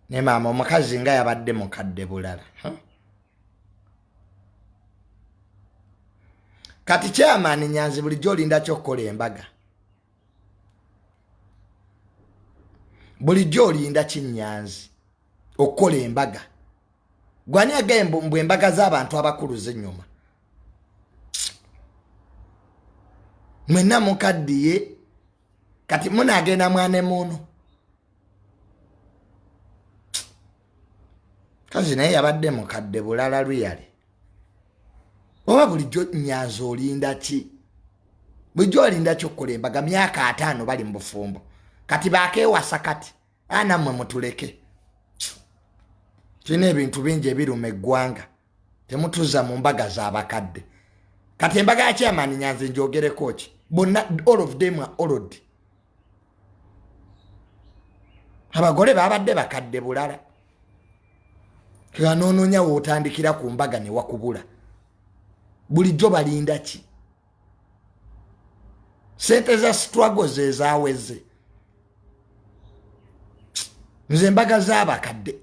ne maama omukazi nga yabadde mukadde bulala kati kyamaani nyanzi bulijjo olinda kyokukola embaga bulijjo olinda kinyanzi okukola embaga gwani agaye mbu embaga z'abantu abakulu zenyuma mwenna mukaddiye kati munaagenda mwana emuunu kazi naye yabadde mukadde bulala luyale oba bulijjo nyanza olinda ki bulijjo olinda ki okukola embaga myaka ataano bali mu bufumbo kati bakewasa kati anamwe mutuleke tulina ebintu bingi ebiruma eggwanga temutuza mu mbaga zabakadde kati embaga ya chairman nyanzi njogereko ki bonna all of them are old abagole babadde bakadde bulala anoononya wootandikira ku mbaga ne wakubula bulijjo balinda ki sente za struggle zezaweze nze embaga z'abakadde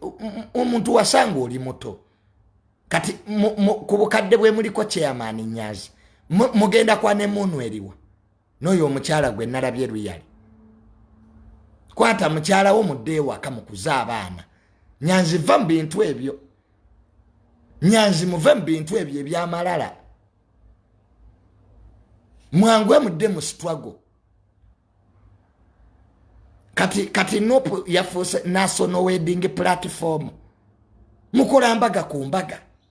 omuntu wasanga oli muto kati ku bukadde bwe muliko chairman nyazi mugenda kwa nemuunu eriwa n'oyo omukyala gwe nalabye luyali kwata mukyala wo mudde ewaka mukuze abaana nyanzi va mu bintu ebyo nyanzi muve mu bintu ebyo ebyamalala mwangwe mudde mu sitwago kati kati nopu yafuuse national wedding platform mukola mbaga ku mbaga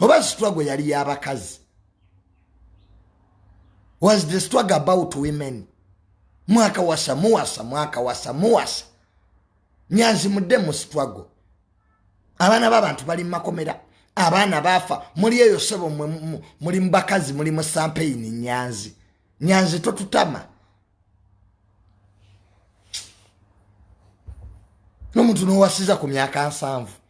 oba struggle yali yabakazi was the struggle about women mwaka wasa muwasa mwaka wasa muwasa nyanzi mudde mu struggle abaana babantu bali mumakomera abaana baafa muli eyo sebo muli mubakazi muli mu sampeyini nyanzi nyanzi totutama nomuntu nowasiza ku myaka nsanvu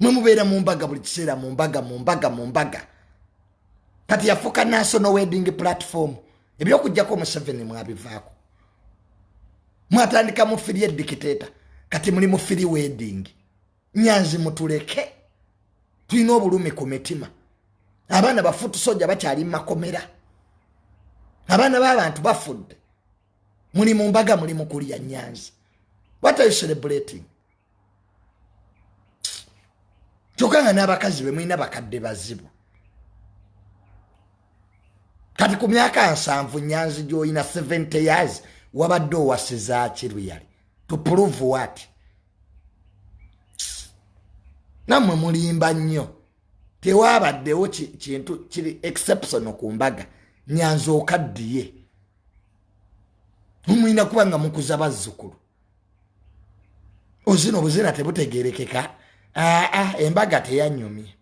mwe mubeera mu mbaga buli kiseera mu mbaga mu mbaga mu mbaga kati yafuuka national wedding platform ebyokujjako museveni mwabivaako mwatandika mufiri edikiteeta kati muli mufiri wedding nyanzi mutuleke tulina obulumi ku mitima abaana bafutusoja bakyali mumakomera abaana b'abantu bafudde muli mu mbaga muli mukulya nyanzi what are you celebrating kyokka nga n'abakazi be mulina bakadde bazibu kati ku myaka nsanvu nyanzi gy'olina 70 years wabadde owasizaaki luyali to prove what nammwe mulimba nnyo tewaabaddewo kintu kiri exceptional ku mbaga nyanzi okaddiye mumulina kuba nga mukuza bazzukulu ozina obuzina tebutegerekeka aa ah, ah, embaga teyanyumye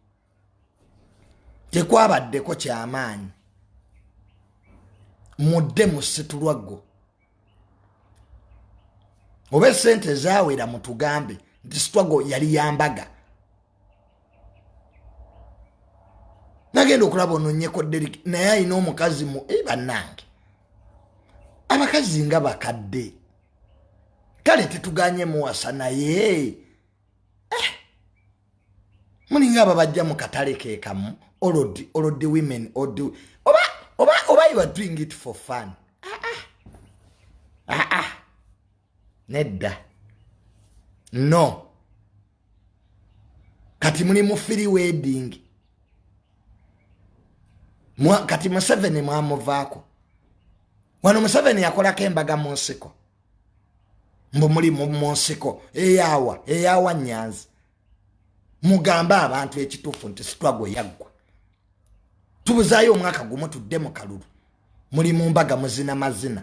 tekwabaddeko kyamaanyi mudde musitulwaggo oba esente zawera mutugambe nti sitwago yali yambaga nagenda okulaba ononyeko derik naye alina omukazi mu e bannange abakazi nga bakadde kale tetuganye muwasa naye eh. mulinga ababajja mu katale kekamu olodi olodi women odi oba oba oba you are doing it for fun ah, ah. Ah, ah. nedda no kati muli mu free wedding Mwa, kati museveni mwamuvaako wano museveni yakolako embaga mu nsiko mbu muli mu nsiko eyawa eyawa nyanzi mugambe abantu ekituufu nti sitwago yaggwa tubuzaayo omwaka gumu tudde mu kalulu muli mu mbaga muzina mazina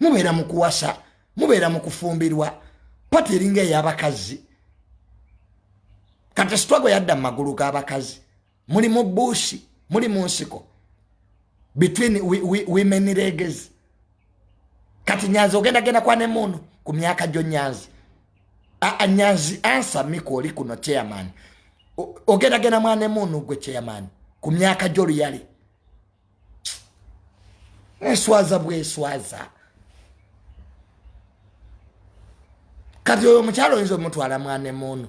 mubeera mu kuwasa mubeera mu kufumbirwa pati eringa ey'abakazi kati sitwago yadda mu magulu g'abakazi muli mu buusi muli mu nsiko between women leges kati nyanzi ogenda genda kwa ne muno ku myaka gyo nyanzi aa nyanzi ansa miko oli kuno chairman ogenda genda mwane muno gwe chairman ku myaka gyo luyali eswaza bweswaza kati oyo omukyalo oyinza omutwala mwana emuunu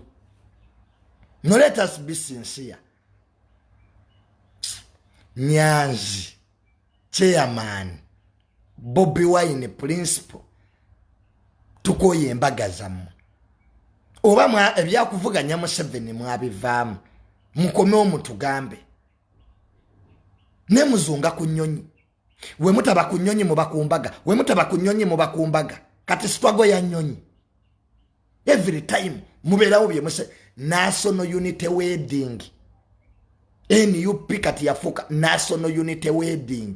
noletas bisinsiya nyanzi chairman bobi wine principal tukoye embaga zammwe oba ebyakuvuganya museveni mwabivaamu mukome omutugambe ne muzunga ku nyonyi we mutaba ku nyonyi muba ku mbaga we mutaba ku nyonyi muba ku mbaga kati sitwago ya nyonyi every time mubeerawo bye muse national unity wedding nup kati yafuuka national unity wedding